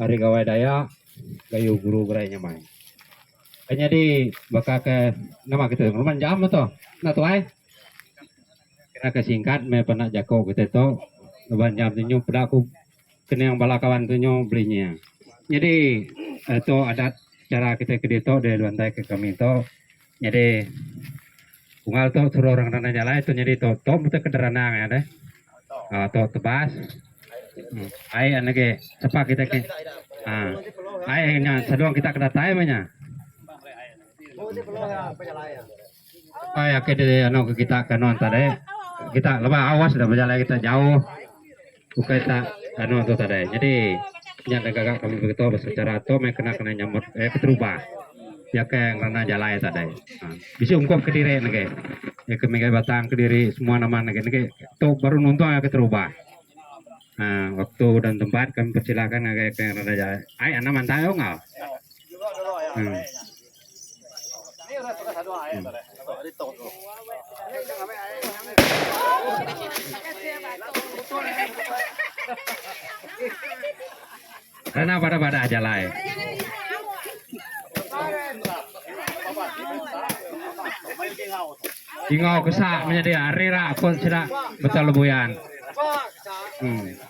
ari Gawai Dayak Gayu Guru Gerai Nyamai. Ke nyadi baka ke nama kita tu penguman jam tu. Enda tuai. Kira ke singkat meh pena jaku kita tu nuban jam tu nyu peda ku kening bala kawan tu nyu belinya. Nyadi eh tu adat cara kita ke ditu dilantaika kami tu Nyadi unggal tu suruh orang nanda nya alai tu nyadi tu tu mesti ke deranang iya deh. Ha tu tebas. Hmm. Ai an lagi sapa kita ke. Ha. Ai nya seduang kita ke datai meh nya. Ai ake di anu ke kita ke anu tadi. Kita leba awas dah bejalai kita jauh. Ukai ta anu tu tadai. Jadi nya da gaga kami begitu pasal chara tu meh kena kena nyambut eh keterubah. Iya ke ngerana jalai tadai. Ha. Bisi ungkup kediri nege. Ya ke mega batang kediri semua nama nege nege tu baru nuntung agi keterubah. Ha waktu dan tempat kami persilakan ngagai ke ngerana jalai. Ai anang mantai oh enggau. Hmm. Kena bada bada jalai. Tingau kesak menyadi ari rak ko sida betul lebuyan. Hmm.